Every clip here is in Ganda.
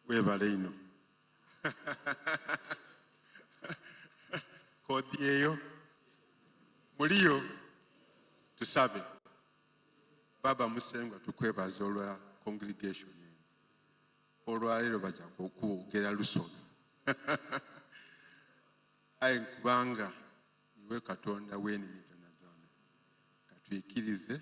webale ino kodi eyo muliyo tusabe baba musengwa tukwebaza olwa congregation eno olwaleero baja kukwogera lusona aye nkubanga iwe katonda wenimidonadona katwikirize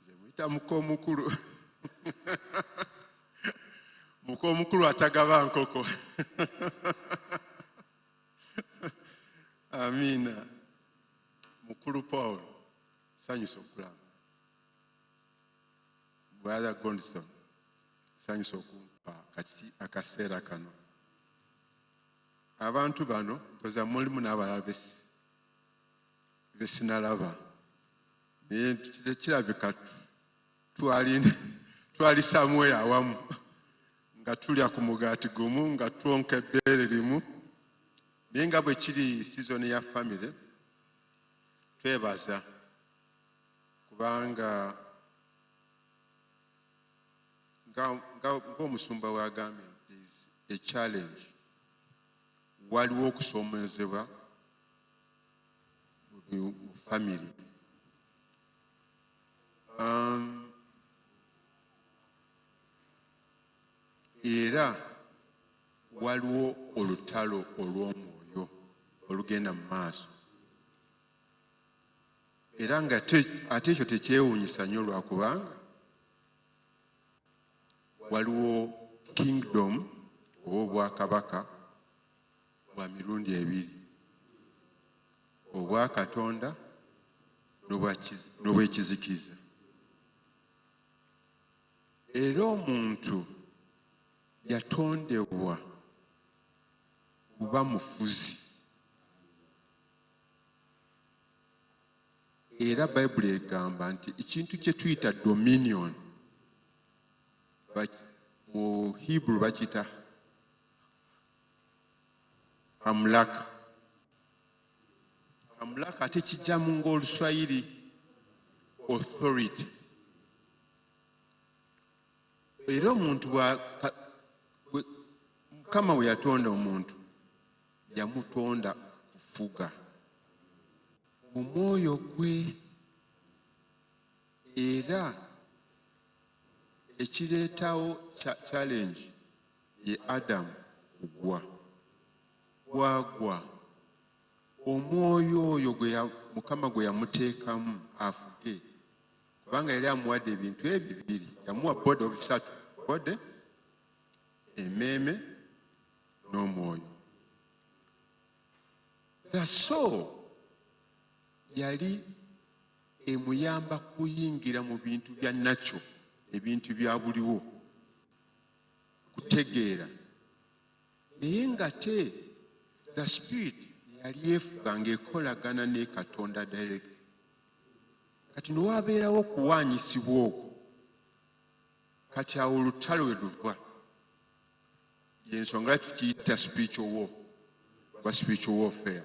nze muyita muka omukulu muka omukulu atagaba nkoko amiina mukulu paul sanyusa okulaba bwala gondison sanyusa okumpa kati akaseera kano abantu bano toza mulimu n'abalala besi ne sinalaba naye kirabika twali samweyo awamu nga tulya ku mugaati gumu nga twonka ebbeere limu naye nga bwe kiri sizoni ya famire twebaza kubanga ng'omusumba wagambye a challenge waliwo okusoomoozebwa mu family um, era waliwo olutalo olw'omwoyo olugenda mu maaso era nga ate ekyo tekyewuunyisa nnyo lwakubanga waliwo kingdom oba obwakabaka bwa mirundi ebiri obwa katonda n'obwekizikiza era omuntu yatondebwa kuba mufuzi era bayibuli egamba nti ekintu kye tuyita dominion mu hebrew bakiyita kamulaka kamulaka ate kijjamu ngaoluswayiri authority era omuntu mukama we yatonda omuntu yamutonda kufuga omwoyo gwe era ekireetawo challenge ye Adamu kugwa. Bwagwa, omwoyo oyo gwe Mukama gwe yamuteekamu afuge, kubanga yali amuwadde ebintu ebyo bibiri, yamuwa body of bisatu, body, emeeme n'omwoyo. The soul yali emuyamba kuyingira mu bintu bya nakyo, ebintu bya buliwo. kutegeera naye ngate the spirit yali efuga ngaekolagana ne katonda direct kati newabeerawo okuwaanyisibwa okwo kati awo olutalo we luva yensonga lwaki tukiyita spiritual war oba spiritual warfare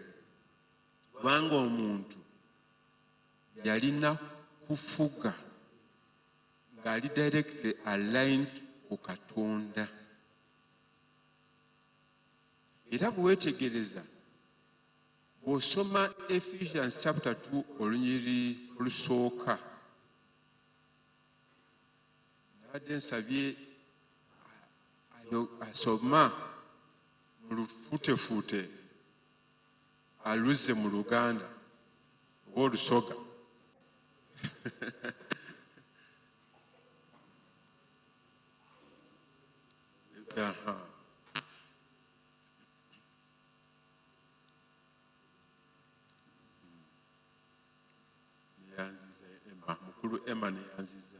kubanga omuntu yalina kufuga ng'ali directly aligned ku katonda era bwe weetegereza bw'osoma ephesians chapter 2 olunyiri olusooka nabadde nsabye asoma mu lufuutefuute aluzze mu luganda oba olusoga neyanziza ema mukulu ema neyanziza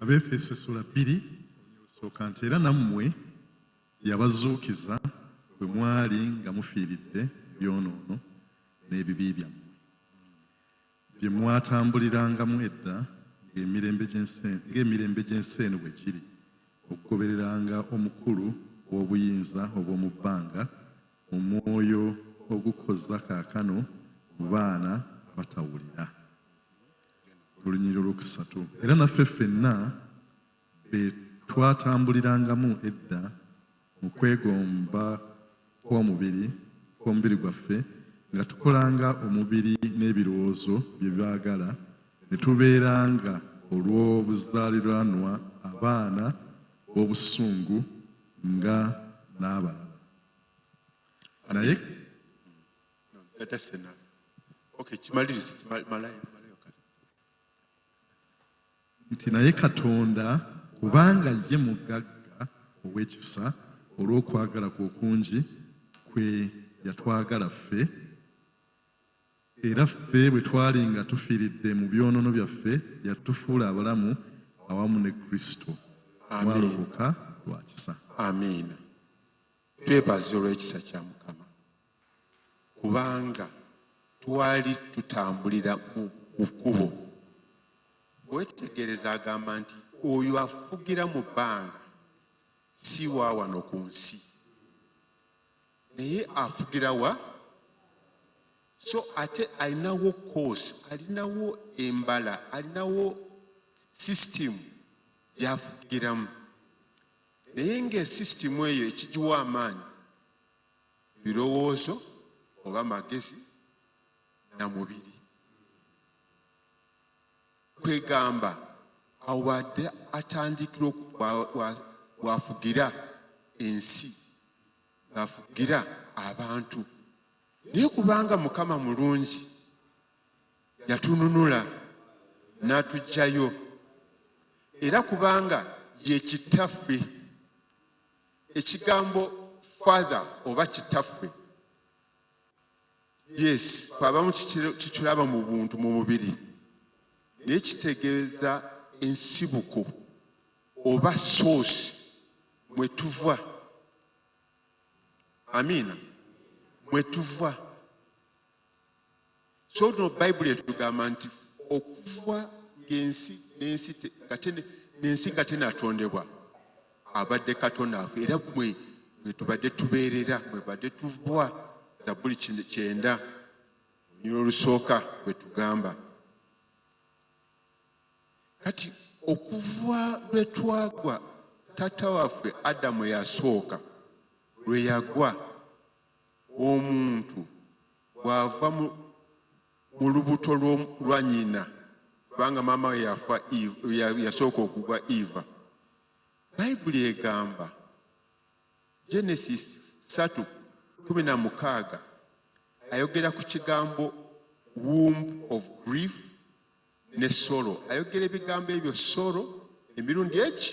abeefeso essula bbiri sooka nti era nammwe yabazuukiza bwe mwali nga mufiiridde byonoono n'ebibi byammwe bye mwatambulirangamu edda ng'emirembe gy'ensi eno bwe giri okugobereranga omukulu w'obuyinza obw'omu bbanga omwoyo ogukozza kaakano mu baana abatawulira olunyiriro lwokusatu era naffe ffenna be twatambulirangamu edda mu kwegomba kw'omubiri kw'omubiri gwaffe nga tukolanga omubiri n'ebirowoozo bye byagala ne tubeeranga olw'obuzaaliranwa abaana b'obusungu nga n'abalala naye atasena okay kimalirize malayo malayo kale nti naye katonda kubanga ye mugagga ow'ekisa olw'okwagala kwe okungi kwe yatwagala ffe Era ffe bwe twali nga tufiiridde mu byonoono byaffe, yatufuula abalamu awamu ne Kristo. Mwalokoka lwa kisa. Amiina. Twebaza olw'ekisa kya Mukama kubanga twali tutambulira mu kkubo. Wetegereza agamba nti oyo afugira mu bbanga si wa wano ku nsi. naye afugira wa so ate alinawo course alinawo embala alinawo system gyafugiramu naye ngaesysitemu eyo ekigiwa amaanyi birowoozo oba magezi na mubiri kwegamba awo bwadde atandikira wafugira ensi ng'afugira abantu naye kubanga mukama mulungi yatununula n'atugyayo era kubanga ye kitaffe ekigambo father oba kitaffe yes kwabamu kikiraba mu buntu mu mubiri naye kitegeeza ensibuko oba soosi mwe tuva amiina mwe tuva so no bayibuli etugamba nti okuva ngaensi nensi nensi nga tenatondebwa abadde katonda afe era mwe mwetubadde tubeerera mwebadde tuvwa za buli kyenda onyina olusooka bwetugamba kati okuva lwe twagwa taata waffe adamu yasooka lwe yagwa omuntu bw'ava mu lubuto lwa nyina kubanga maama we yafa yasooka okugwa eva bayibuli egamba genesis 3 16 ayogera ku kigambo womb of grief ne solo ayogera ebigambo ebyo solo emirundi eki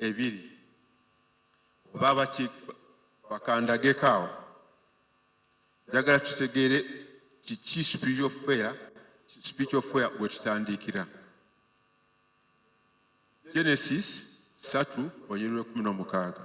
ebiri oba baki bakandageko awo njagala tutegeere kiki spiritual fair spiritual fair wetutandikira genesis satu onyiriro ekumi n'omukaaga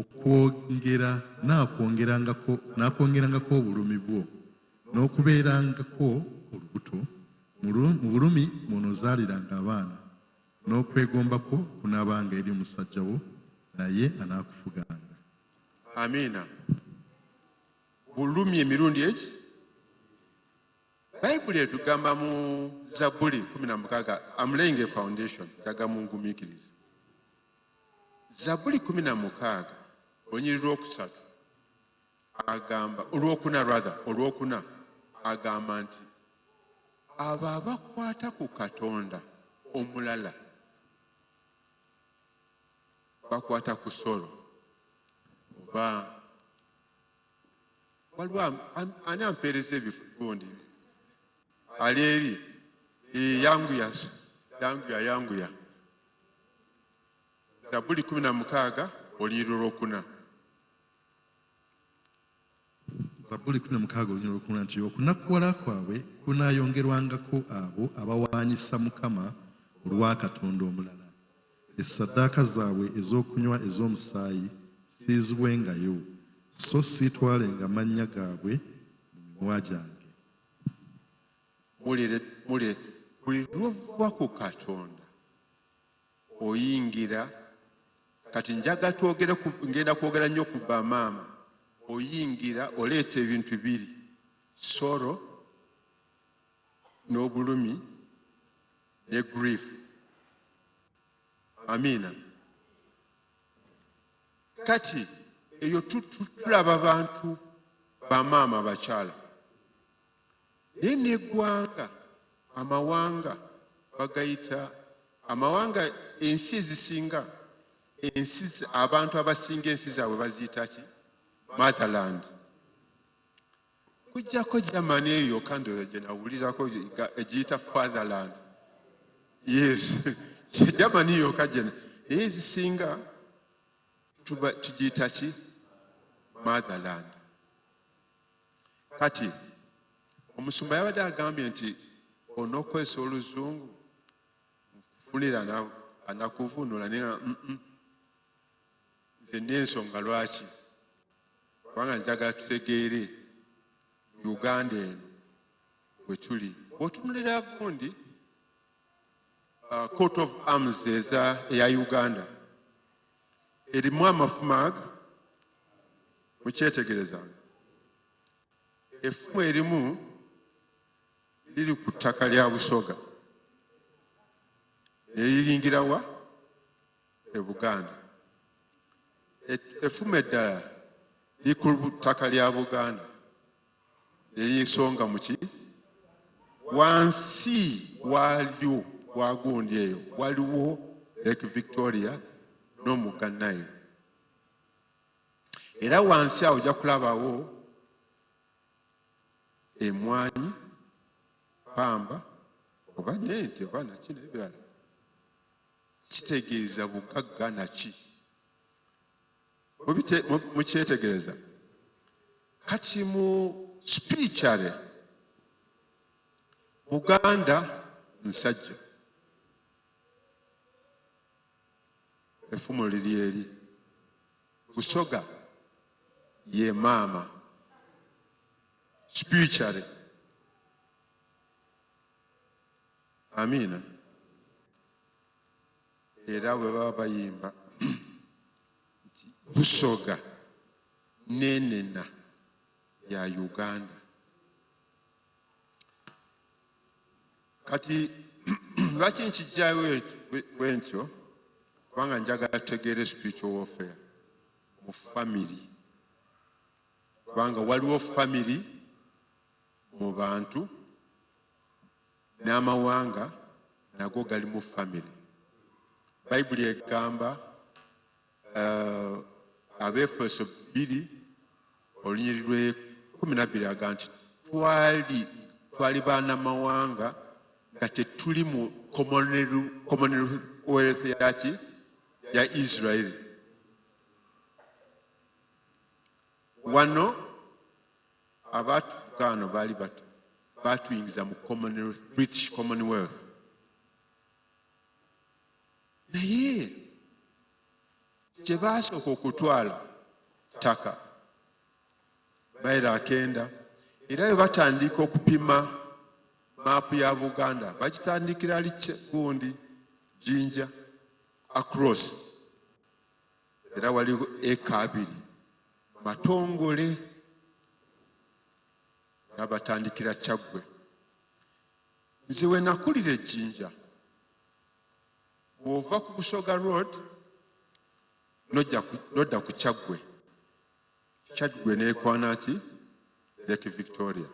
Okwongera, naakwongerangako, naakwongerangako obulumi bwo, n'okubeerangako olubuto, mu lu, mu bulumi mw'onoozaaliranga abaana, n'okwegomba kwo kunaabanga eri omusajja wo, naye anaakufuganga. Amiina. Bulumi emirundi eki bayibuli etugamba mu zabbuli kumi na mukaaga am laying a foundation kyaga mungumiikiriza Zabuli kumi na mukaaga olunyiri lwokusatu agamba olwokuna rather olwokuna agamba nti abo abakwata ku katonda omulala bakwata ku solo oba waliwo ani ampeereza ebigundi ali eri yanguya yanguya yanguya Zabbuli kumi na mukaaga olunyiriri olwokuna. Zabbuli kumi na mukaaga olunyiriri olwokuna nti okunakuwala kwabwe kunaayongerwangako abo abawaanyisa Mukama olwa katonda omulala, essaddaaka zaabwe ez'okunywa ez'omusaayi siizibwengayo, so siitwalenga mannya gaabwe mu mimwa gyange. mule buli lwova ku katonda oyingira kati njaga twogere ngenda kwogera nnyo ku bamaama oyingira oleeta ebintu biri soro n'obulumi ne grief amiina kati eyo tulaba bantu bamaama bakyala naye n'eggwanga amawanga bagayita amawanga ensi ezisinga ensi abantu abasinga ensi zaabwe baziyita ki motherland kujjako germany eyo yokka ndooza gye nawulirako egiyita fatherland yes germany yokka gyena naye ezisinga tugiyita ki motherland kati omusumba yabadde agambye nti onokwesa oluzungu nkufunira anakuvunula naye nze nensonga lwaki kubanga njagala tutegeere uganda eno wetuli otunulira gundi uh, court of arms eza eya uganda erimu amafumag mukyetegerezanga effumu erimu liri ku ttaka lya busoga neriyingirawa e buganda effumu eddala liri ku ttaka lya buganda ey'ensonga muki wansi waalyo wagundi eyo waliwo lake victoria n'omugga nile era wansi awo ojja kulabawo emwanyi pamba oba nente oba naki nebirala kitegeeza bugagga naki mukyetegereza kati mu spiritually buganda nsajja efumu liri eri busoga ye maama spiritually amiina era bwe baba bayimba nti busoga nenena ya uganda kati lwaki nkijjayo bwe ntyo kubanga njagala tegeere spiritual warfare mu family kubanga waliwo family mu bantu N'amawanga nago galimu famire. Bayibuli egamba uh, Abeefeso bbiri olunyiri lwe kumi nabbiri aga nti twali twali baana mawanga nga tetuli mu commonwealth yaki ya israeli wano abaatufuka ano baali bato baatuyingiza mu british commonwealth naye kye baasooka okutwala ttaka bayira akenda era bwe batandika okupima maapu ya buganda bakitandikira liki gundi jinja across era waliwo eka abiri matongole nga batandikira kyaggwe nze we nakulira ejjinja bw'ova ku busoga road nodda ku kyaggwe kyaggwe neekwana ki lake victoria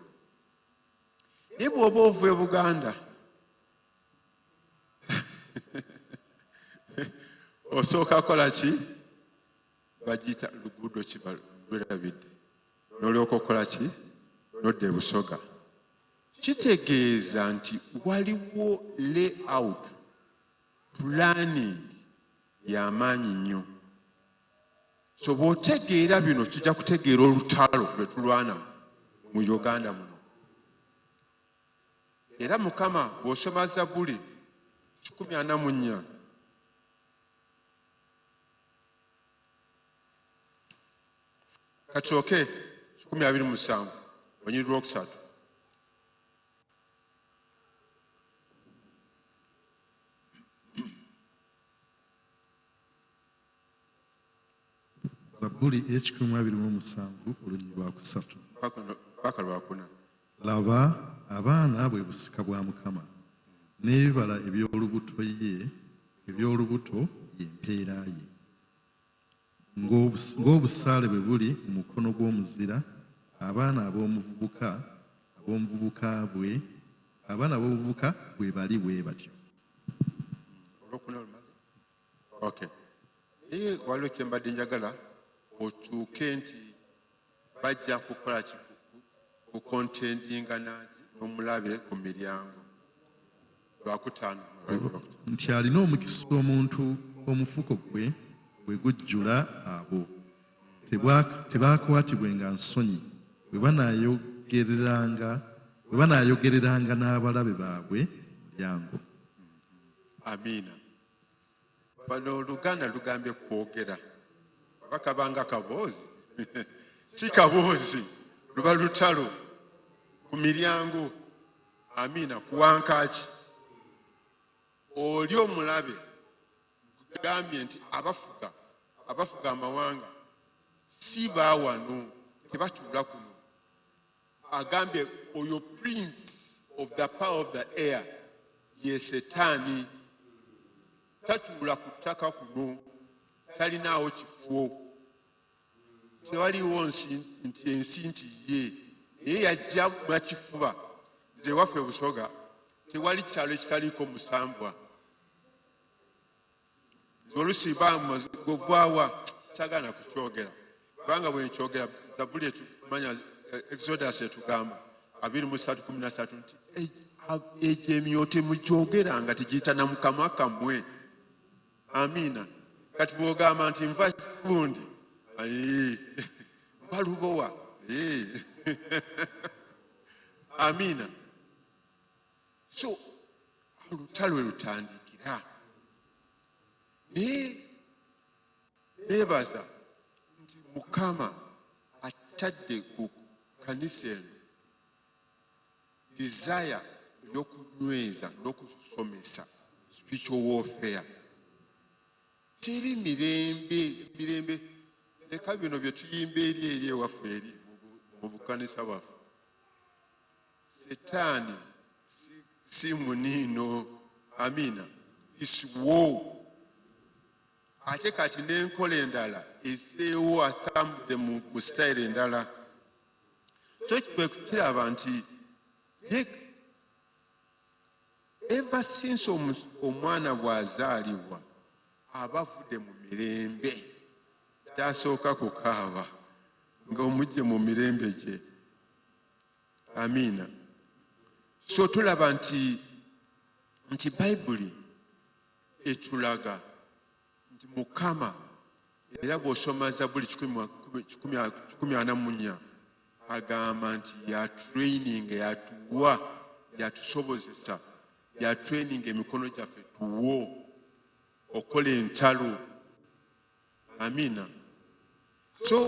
naye bw'oba ova e buganda osooka kola ki bagiyita luguudo kibalwerabidde nolyoka okukola ki nodda ebusoga kitegeeza nti waliwo layout planning yamaanyi nnyo so bwotegeera bino kijja kutegeera olutalo lwetulwana mu uganda muno Era Mukama bw'osoma Zabbuli kikumi ana mu nnya kakyooke kikumi abiri mu musanvu onyiriri lwokusatu zabbuli ey'ekikumi mu abiri mu omusanvu olunyiri lwakusatu paka lwakuna laba abaana bwe busika bwa mukama n'ebibala eby'olubuto ye eby'olubuto ye mpeera ye ng'obusaale bwe buli mu mukono gw'omuzira abaana ab'omuvubuka ab'omuvubuka bwe abaana ab'obuvubuka bwe bali bwe batyo okay naye waliwo kyembadde njagala okyuke nti bajja kukola kukontendinga naki nomulabe ku miryango lwakutaano nti alina omukisa omuntu omufuko gwe bwe gujjula abo tebaakwatibwe nga nsonyi bwe banayogereranga bwe banayogereranga n'abalabe baabwe lyango amiina bano oluganda lugambye kwogera oba kabanga kaboozi si kaboozi luba lutalo ku miryango amiina kuwankaaki oli omulabe gambye nti abafuga abafuga amawanga si bawano tebatuula kuno agambye oyo prince of the power of the air ye setaani tatuula ku ttaka kuno talinaawo kifo tewaliwo nti ensi nti ye naye yajja makifuba nze waffe busoga tewali kyalo ekitaliiko musambwa olusi bamugwawa sagana kukyogera kubanga bwenkyogera zabuli etumanya eh, exodus etugamba abiri musatu kumi nasatu nti egyo emyote mugyogera nga tegiyitana mukama kamwe amiina kati bwogamba nti nva kundi nva lubowa amiina so olutalo lutandikira naye nebaza nti mukama attadde ku kanisa eno desire eyokunyweza n'okusomesa spiritual warfare teri mirembe mirembe leka bino byetuyimba eri eri ewaffe eri mu bukanisa bwaffe Setaani si, si muniino. Amiina. Isiwo ate kati n'enkola endala eseewo atambudde mu ku sitayiro endala so kwe kukiraba nti eva sinsi omwana bw'azaalibwa aba avudde mu mirembe kyasooka kukaaba ng'omujje mu mirembe gye amiina so tulaba nti nti bayibuli etulaga nti mukama era bw'osoma zabuli kikumi ana mu nnya agamba nti yatraining yatuwa yatusobozesa yatraining emikono gyaffe tuwo okukola entalo amiina so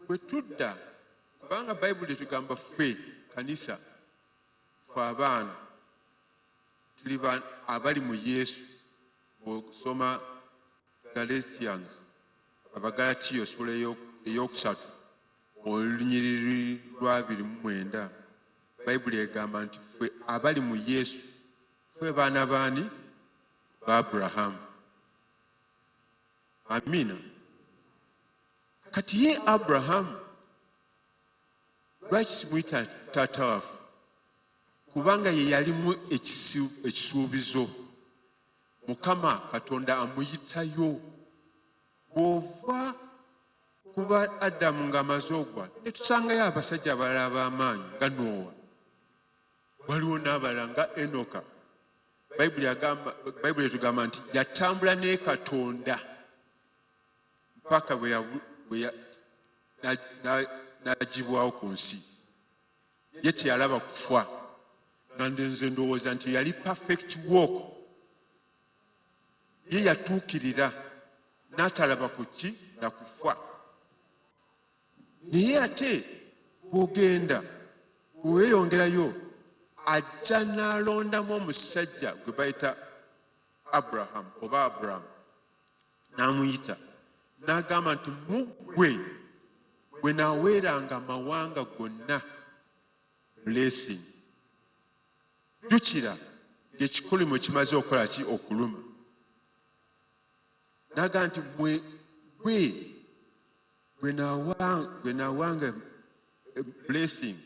bwe tudda kubanga bayibuli etugamba ffe kanisa fe abaana tuli abali mu yesu bwosoma galatians abagalatiyo sula eyokusatu olunyiriri lwabiri mu mwenda bayibuli egamba nti ffe abali mu yesu ffe baana baani ba aburahamu amiina kati ye abrahamu lwaki simuyita taata waffe kubanga ye yalimu ekisuubizo mukama katonda amuyitayo bw'ova kuba adamu ng'amaze ogwa netusangayo abasajja abalala b'amaanyi nga noowa waliwo n'abalala nga enoka bayibuli etugamba nti yatambula ne katonda mpaka nagibwawo ku nsi ye teyalaba kufa nandenze ndowooza nti yali perfect walk ye yatuukirira n'atalaba ku ki na kufa naye ate bwogenda bweweyongerayo ajja n'alondamu omusajja gwe bayita abrahamu oba abrahamu n'amuyita n'agamba nti mu ggwe bwe naweeranga amawanga gonna blessing jjukira ng'ekikolimo kimaze okukola ki okuluma naga nti mwe gwe gwe nawanga blessing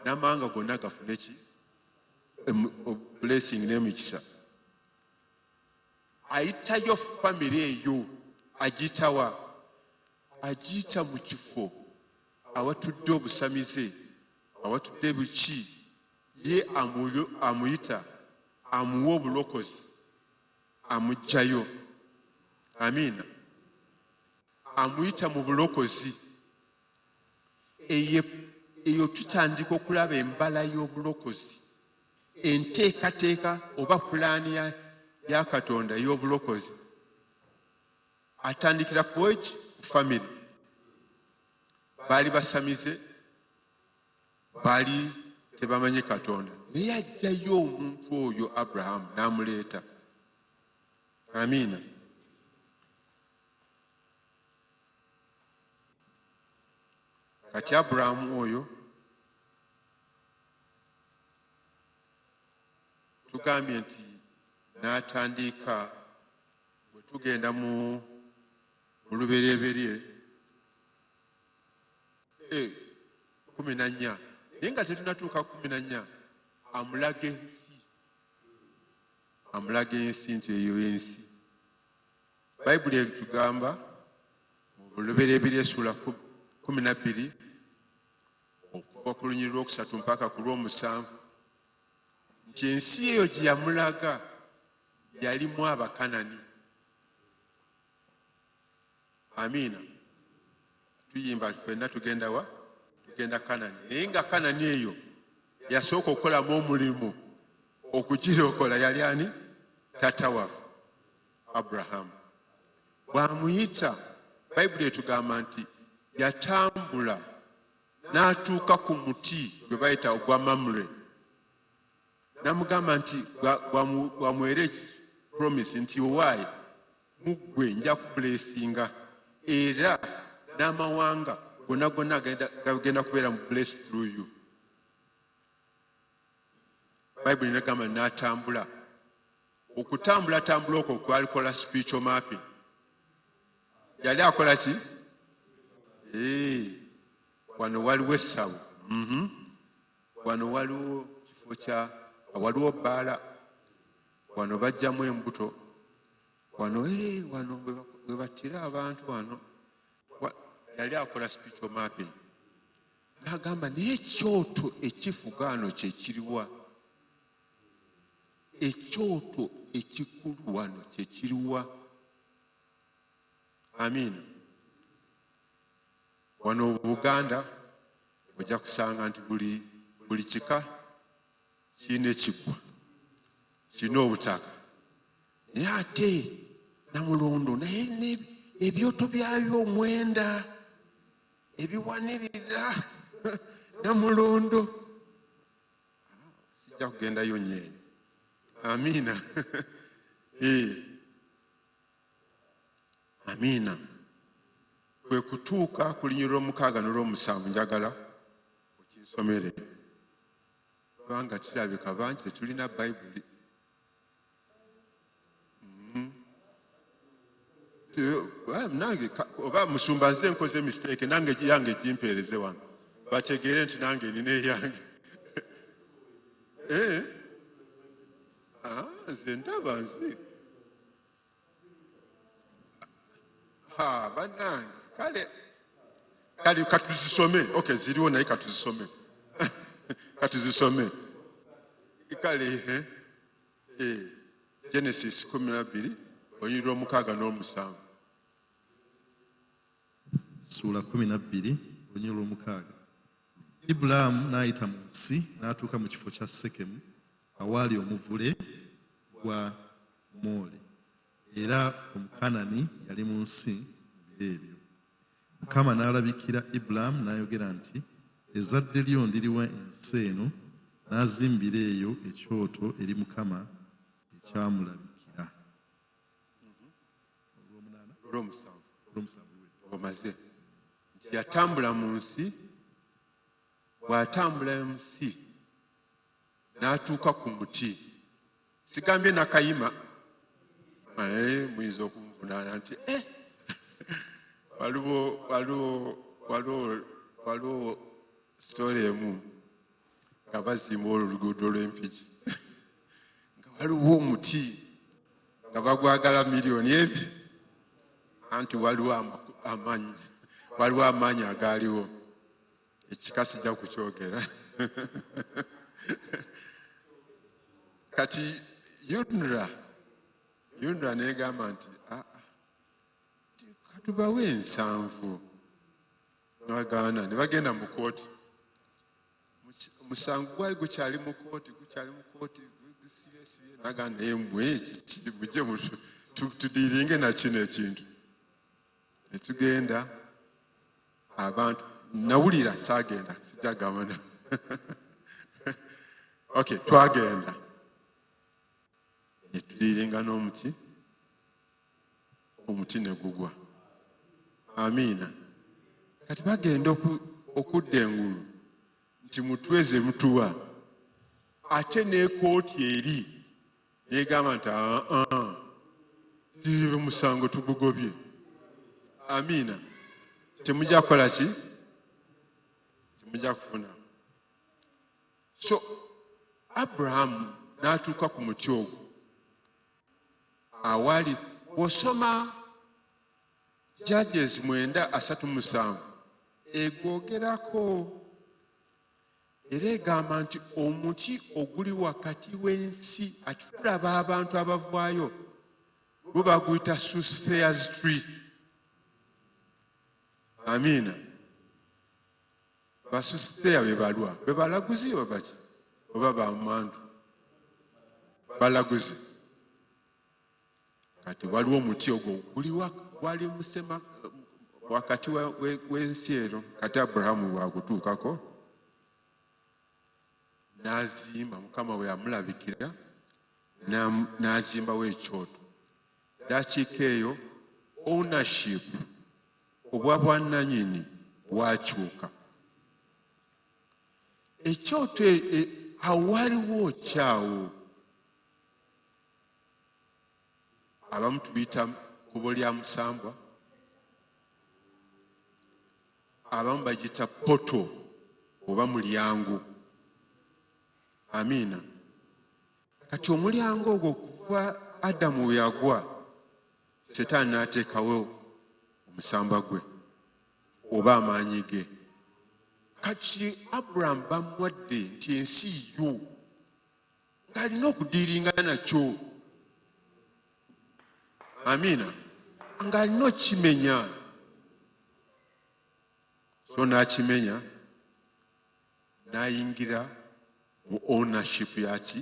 n'amawanga gonna gafune ki blessing n'emikisa ayitayo famire eyo agiyitawa agiyita mu kifo awatudde obusamize awatudde buki ye amuyita amuwa obulokozi amugjayo amiina amuyita mu bulokozi eyo tutandika okulaba embala y'obulokozi enteekateeka oba pulaani ya katonda ey'obulokozi atandikira ku eki ku famiry baali basamize baali tebamanyi katonda naye ajjayo omuntu oyo abrahamu n'amuleeta amiina kati aburahamu oyo tugambye nti n'atandiika bwe tugenda mu luberyeberye eh, kumi na nnya naye nga tetunatuuka kumi na nnya amulaga ensi amulaga ensi nti eyo ensi bayibuli ebitugamba mu bulubereberye essuula kumi nabbiri okuva ku lunyiri lwokusatu mpaka ku lwomusanvu nti ensi eyo gye yamulaga yalimu abakanani amiina tuyimba fenna tugenda wa tugenda kanani naye nga kanani eyo yasooka okukolamu omulimu okugirokola yali ani tata waffe abrahamu bw'amuyita bayibuli etugamba nti yatambula n'atuuka ku muti gwe bayita ogwa mamure namugamba nti bwamwere promise nti owaayi muggwe nja kubulesinga era n'amawanga gonna gonna gagenda kubeera mu bless through you bayibuli nagamba natambula okutambulatambula okwo kwalikola spiritual mapping yali akola ki eh, wano waliwo essawo mhm. wano waliwo kifo kya waliwo bbaala wano bajjamu embuto wano eh, wano webattira abantu wano yali akola spiritual mapping nagamba naye ekyoto ekifugaano kyekiriwa ekyoto ekikulu wano kyekiriwa amiina wano buganda ojja kusanga nti buli buli kika kirina ekiggwa kirina obutaka naye ate namulondo naye ebyoto byayo omwenda ebiwanirira namulondo sijja kugendayo nyo eyo amiina eh. amiina kwe kutuuka ku linyi lw'omukaaga nolw'omusanvu njagala okinsomere kubanga kirabika bangi tetulina bayibuli mm-hmm. eh, nange oba musumba nze nkoze mistake nange yange gimpeereze wano bategeere nti nange nina eyange eh? ah, nze ndaba nze bannange kale kale katuzisome okay ziriwo naye katuzisome katuzisome kale eh, eh, genesis kumi nabbiri olunyiri lwomukaaga n'omusanvu suula kumi nabbiri olunyiri lwomukaaga ibulaamu n'ayita mu nsi n'atuuka mu kifo kya sekemu awaali omuvule gwa Omumooli, era Omukanani yali mu nsi mu biro ebyo. Mukama n'alabikira Ibulaamu n'ayogera nti, Ezadde lyo ndiriwa ensi eno, n'azimbira eyo ekyoto eri Mukama ekyamulabikira. Omaze nti yatambula mu nsi, bw'atambula mu nsi n'atuuka ku muti sigambye nakayima eh, muyinza okunvunaana nti eh, waliwo waliwo waliwo waliwo sitole emu nga bazimba olwo oluguudo lw'empiki nga waliwo omuti nga bagwagala miliyoni ebi anti waliwo amaanyi waliwo amaanyi agaaliwo ekika sijja kukyogera kati yunra yunra negamba nti ah, ah, katubawe ensanvu nagaana ne bagenda mu kooti omusango gwali gukyali mu kooti gukyali mu kooti nagaana embwe kiki mujje tudiringe nakino ekintu netugenda abantu nawulira sagenda sijagabana ok twagenda netuliirenga n'omuti omuti negugwa amiina kati bagenda okudda engulu nti mutweze mutuwa ate nekooti eri negamba nti aa ti musango tugugobye amiina temujja kukola ki temujja kufuna so abrahamu n'atuuka ku muti ogwo awali bw'osoma judges mwenda asatu musanvu egwogerako era egamba nti omuti oguli wakati w'ensi ati tulaba abantu abavaayo gwe baguyita suseas tree amiina basuseya bebalwa bebalaguzi babaki oba bamantu balaguzi kati waliwo omuti ogwo guliwa gwali musema wakati w'ensi eno kati aburahamu wagutuukako n'azimba mukama we yamulabikira n'azimbawo ekyoto dakiika eyo ownership obwa bwannanyini bwakyuka ekyoto e, e, awaliwo kyawo abamu tubiyita kubo lya musambwa abamu bagiyita poto oba mulyango amiina kati omulyango ogwo okuva adamu weyagwa setaani n'ateekawo omusamba gwe oba amaanyi ge kati aburahamu bamwadde nti ensi yo ng'alina okudiiringa nakyo amiina ng'alina okukimenya so n'akimenya n'ayingira mu ownership yaki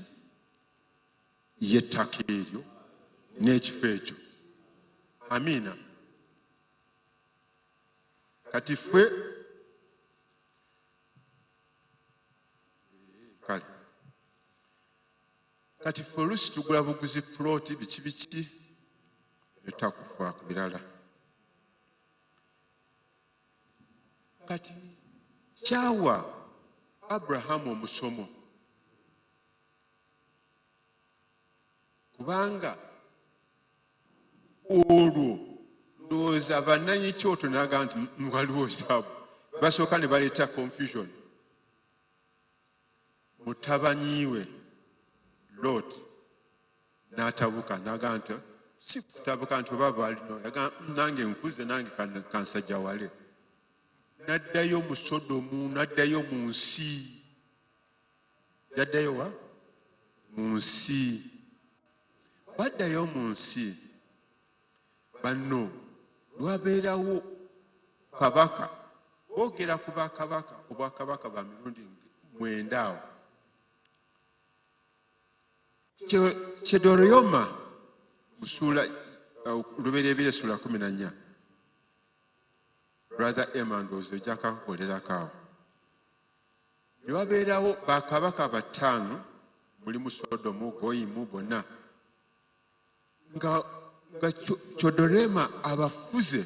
y'ettaka eryo n'ekifo ekyo amiina kati ffe kale kati fe olusi tugula buguzi ploti biki biki etakufa ku birala kati kyawa abrahamu omusomo kubanga olwo ndowooza bananyi kyoto naga nti waliwo zaabu basooka ne baleeta confusion mutabanyiwe lot n'atabuka naga nti si kutabuka nti oba balino nange nkuze nange kansajja wale naddayo mu sodomu naddayo mu nsi yaddayo wa mu nsi baddayo mu nsi banno lwabeerawo kabaka boogera ku bakabaka obwakabaka bwa mirundi mwenda awo kyedoroyoma musuula uh, lubereebera essuula kumi na nnya brother emandozi ojakakukolerako awo ne wabeerawo bakabaka bataano mulimu sodomu goyimu bonna nga nga codorema abafuze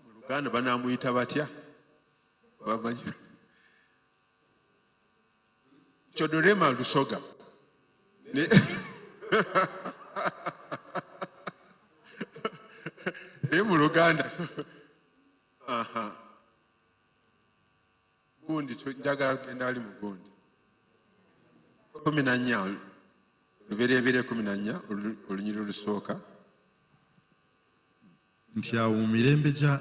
oluganda banamuyita batya bamanyi codorema lusoga naye mu luganda gundi njagala kugenda ali mu gundi kumi na nnya lubereberye kumi na nnya olunyiri olusooka nti awo mu mirembe gya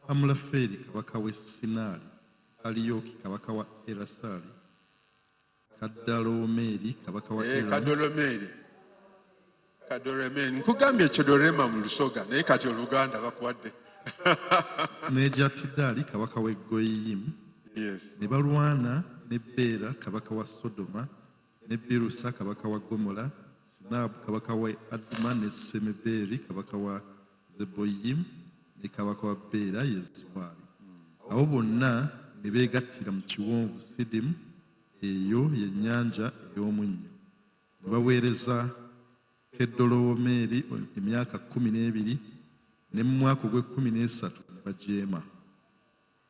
amulafeeri kabaka w'e sinaali aliyoki kabaka wa erasaali Kadolomeri kabaka wa eh, Kadolomeri Kadolomeri nkugambye Chedorema mu Lusoga naye kati Oluganda bakuwadde n'egya Tidali kabaka w'e Goyiyimu ne balwana ne Beera kabaka wa Sodoma ne Birusa kabaka wa Gomola Sinaabu kabaka wa Aduma ne Semeberi kabaka wa Zeboyiyimu ne kabaka wa Beera ye Zuwaali. Abo bonna ne beegattira mu kiwonvu Sidimu, eyo ye nnyanja ey'omunnyo, ne baweereza Keddolowomeeri emyaka kkumi n'ebiri, ne mu mwaka ogw'ekkumi n'esatu ne bajeema.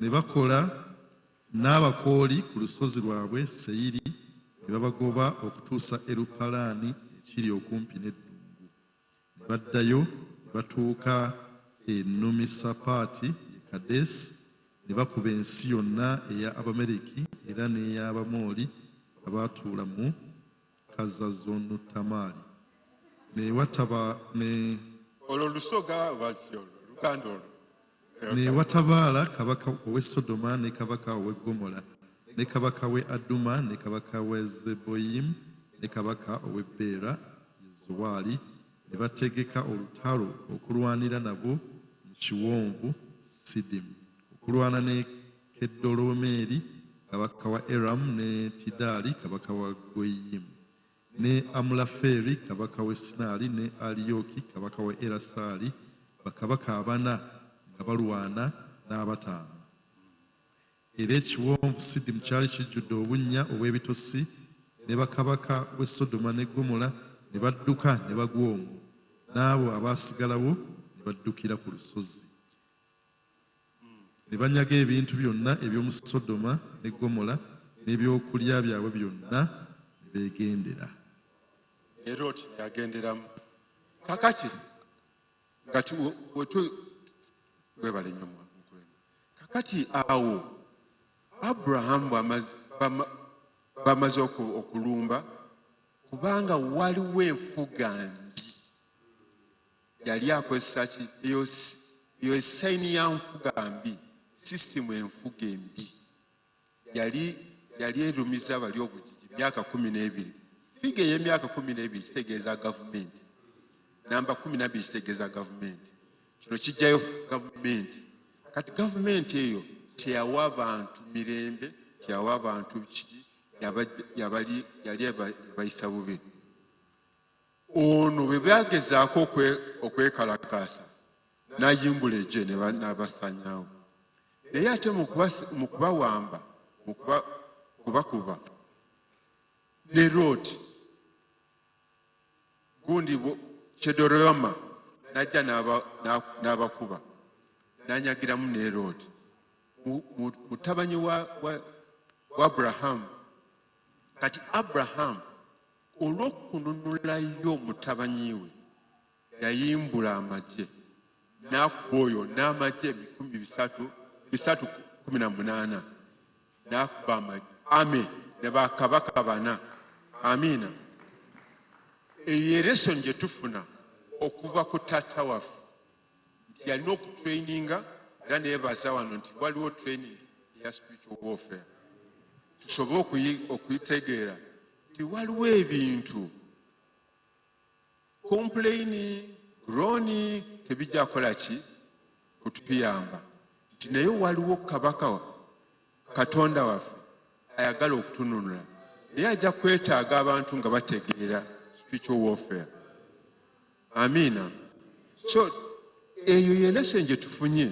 Ne bakola n'Abakooli ku lusozi lwabwe Seyiri, ne babagoba okutuusa e Lupalaani ekiri okumpi n'eddungu, ne baddayo ne batuuka e Numisapaati, ye Kadesi, ne bakuba ensi yonna eya Abamereki era n'ey'Abamoli abaatuula mu. kazazonu tamaali newataba ne olwo lusoga walisi olwo luganda olwo newatabaala kabaka owe sodoma ne kabaka owe gomola ne kabaka we aduma ne kabaka we zeboyimu ne kabaka owe beera yezowaali ne bategeka olutalo okulwanira nabo mu kiwonvu sidimu okulwana ne Kedolomeri kabaka wa Eramu ne Tidaali kabaka wa Goyiyimu ne Amulafeeri kabaka w'e Sinaali ne Aliyoki kabaka wa Erasaali, bakabaka abana nga balwana n'abataano. Era ekiwonvu Sidimu kyali kijjudde obunnya obw'ebitosi, ne bakabaka w'e Sodoma ne Ggomola ne badduka ne bagwa omwo, n'abo abaasigalawo ne baddukira ku lusozi. ne banyaga ebintu byonna eby'omu Sodoma ne Gomola n'ebyokulya byabwe byonna ne beegendera. Ne Looti yagenderamu. Kakati nga webale nnyo mukulembeze. Kakati awo Aburahamu bamaze okulumba kubanga waliwo enfuga yali akozesa ki eyo eyo esayini ya nfuga mbi sisitimu enfuga embi yali yali erumiza bali obugigi myaka kumi n'ebiri figa ey'emyaka kumi n'ebiri kitegeeza gavumenti namba kumi nabiri kitegeeza gavumenti kino kijjayo gavumenti kati gavumenti eyo teyawa bantu mirembe teyawa bantu kiki yali ebayisa bubi ono bwe byagezaako okwekalakaasa nayimbula egye nabasanyawo naye ate mu kubawamba kubakuba ne rooti gundi kyedoroma najja n'abakuba nanyagiramu ne rooti mutabanyi wa abrahamu kati abrahamu olw'okununulayo mutabani we yayimbula amagye n'akuba oyo n'amagye ebikumi bisatu bisatu kumi na munaana n'akuba amagye ame ne bakabaka bana amiina eyo eresoni gye tufuna okuva ku taata waffe nti yalina okutraininga era nebaza wano nti waliwo training eya spiritual warfare tusobe okuyitegeera nti waliwo ebintu kompuleyini grooni tebijja kukola ki kutuyamba nti naye waliwo kabaka katonda waffe ayagala okutununula naye ajja kwetaaga abantu nga bategeera spiritual warfare amiina so eyo yelesoni gye tufunye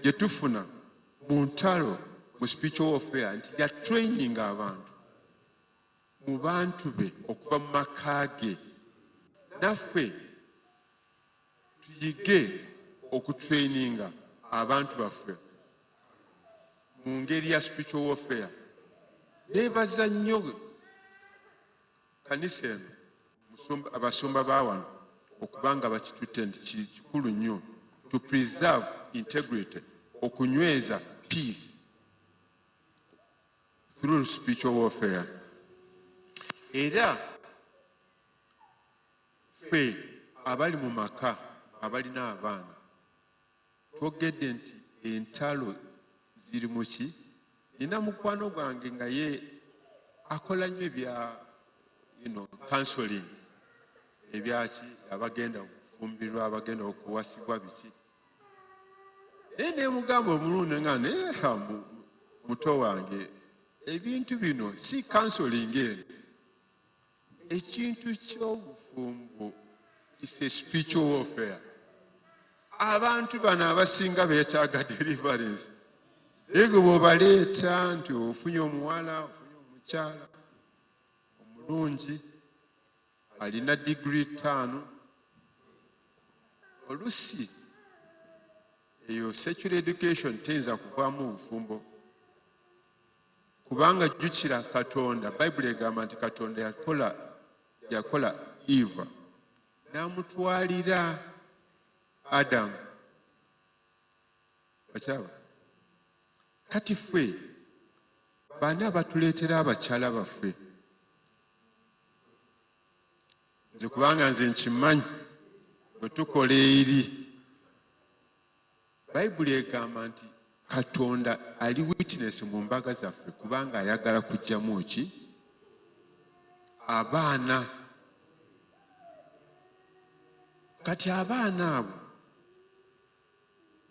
gye tufuna mu ntalo mu spiritual warfare nti ya training abantu mu bantu be okuva mu maka ge naffe tuyige okutraininga abantu baffe mu ngeri ya spiritual warfare nebaza nnyo kanisa eno abasumba ba wano okubanga bakitutte nti kikulu nnyo to preserve integrity okunyweza peace through spiritual warfare era ffe abali mu maka abalina abaana twogedde nti entalo ziri muki nina mukwano gwange nga ye akola nnyo ebya ino counseling ebyaki abagenda okufumbirwa abagenda okuwasibwa biki naye nemugamba omulundi nga naye hambu muto wange ebintu bino si kansoling eno ekintu kyobufumbo is a spiritual warfare abantu bano abasinga betaaga deliverance naye gwe bwobaleeta nti ofunye omuwala ofunye omukyala omulungi alina digiri ttaano olusi eyo secular education teyinza kuvaamu bufumbo kubanga jjukira katonda bayibuli egamba nti katonda yakola yakola eva n'amutwalira adamu okyaba kati ffe baani abatuleetera abakyala baffe nze kubanga nze nkimanyi bwe tukola eri bayibuli egamba nti katonda ali witness mu mbaga zaffe kubanga ayagala kujjamu ki abaana kati abaana abo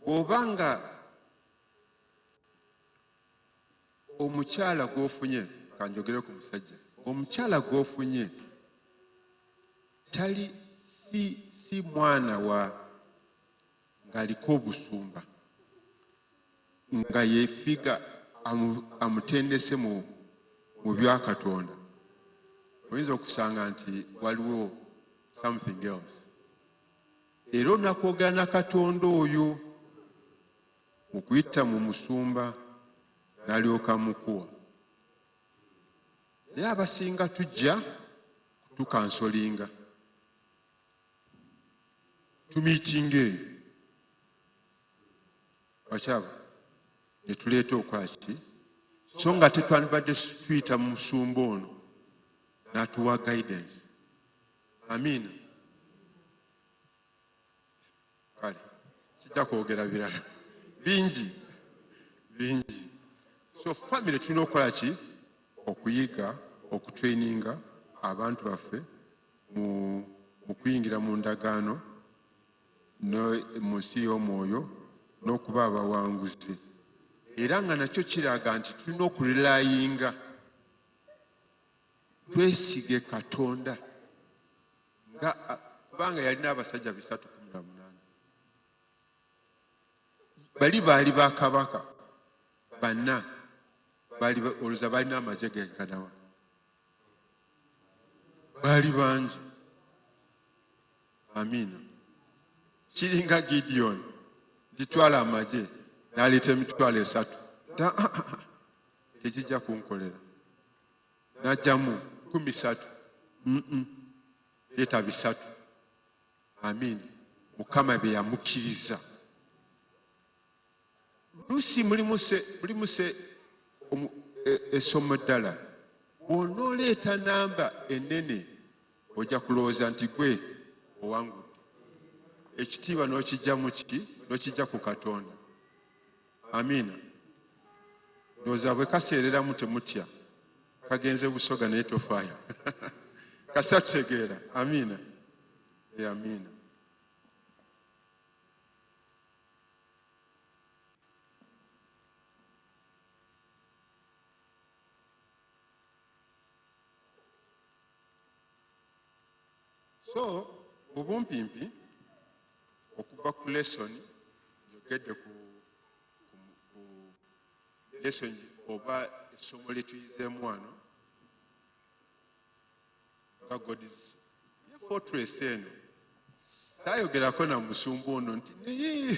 bwoba nga omukyala gwofunye kanjogere ku musajja omukyala gwofunye tali si, si mwana wa ng'aliko obusumba nga yefiga amutendese mu mu byakatonda oyinza okusanga nti waliwo something else era onakwogera na katonda oyo okuyita mu musumba nalyoka mukuwa naye abasinga tujja tukansolinga tumiitinga eyo bakyaba netuleeta okola kiti so nga tetwandibadde tuyita mu musumba ono natuwa guidance amiina kale sijja kwogera birala bingi bingi so famire tulina okukola ki okuyiga okutraininga abantu baffe mu kuyingira mu ndagaano mu nsi y'omwoyo n'okuba abawanguzi era nga nakyo kiraga nti tulina okurelayinga twesige katonda nga kubanga yalina abasajja bisatu kumi na munaana bali baali ba kabaka banna oluza balina amagye genkanawa baali bangi amiina kiringa gidiyoni gitwala amagye naleeta emitwalo esatu tekijja kunkolera najjamu kumi satu leta bisatu amin mukama byeyamukkiriza lusi mulimuse esomo e, e ddala bwonooleeta namba enene ojja kulowooza nti gwe owangudde ekitiibwa n'okijja mu kiti n'okijja ku katonda amiina ndowooza bwe kaseereramu temutya kagenze busoga naye tofaayo kasita tutegeera amiina e amiina so mu bumpimpi okuva ku lesson njogedde ku lesson oba essomo lyetuyizeemu wano nga godis ye fortress eno sayogerako na musumba ono nti naye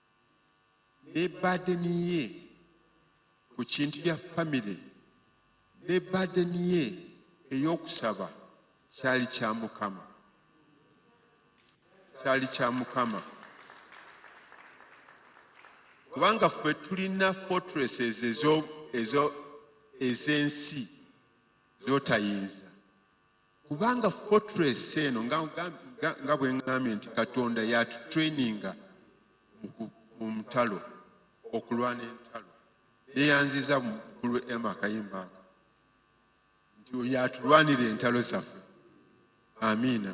ne badeni ye ku kintu kya famire ne badeni ye ey'okusaba kyali kya mukama kyali kya mukama kubanga ffe tulina fortresses ez'ensi z'otayinza kubanga fortress eno nga bwengambye nti katonda yatutraininga mu mutalo okulwana entalo neyanziza mukulu ema kayimba ako nti oyo atulwanira entalo zaffe amiina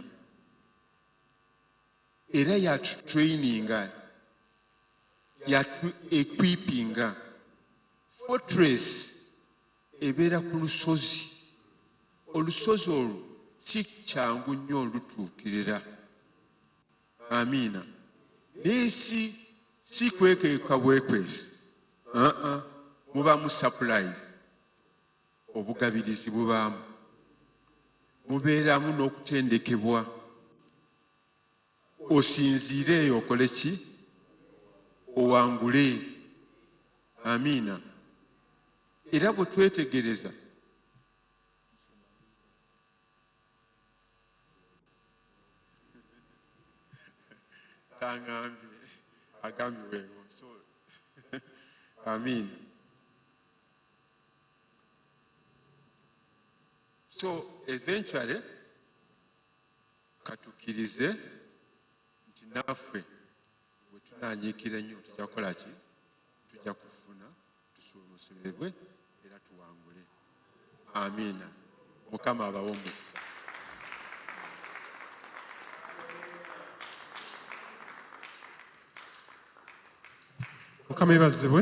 era yatutraininga yatu equipinga fortress ebeera ku lusozi olusozi olwo si kyangu nnyo olutuukirira amiina naye si si kwekeka bwekwesi aa mubamu sapulayizi obugabirizi bubaamu mubeeramu n'okutendekebwa osinziire eyo okole ki owangule amiina era bwe twetegereza tangambye agambye wewo so amiina so eventually katukirize nti naffe bwetunanyiikira ennyo tujja kukola ki tujja kufuna tusuubusulebwe era tuwangule amiina mukama abawo omukisa mukama ebazibwe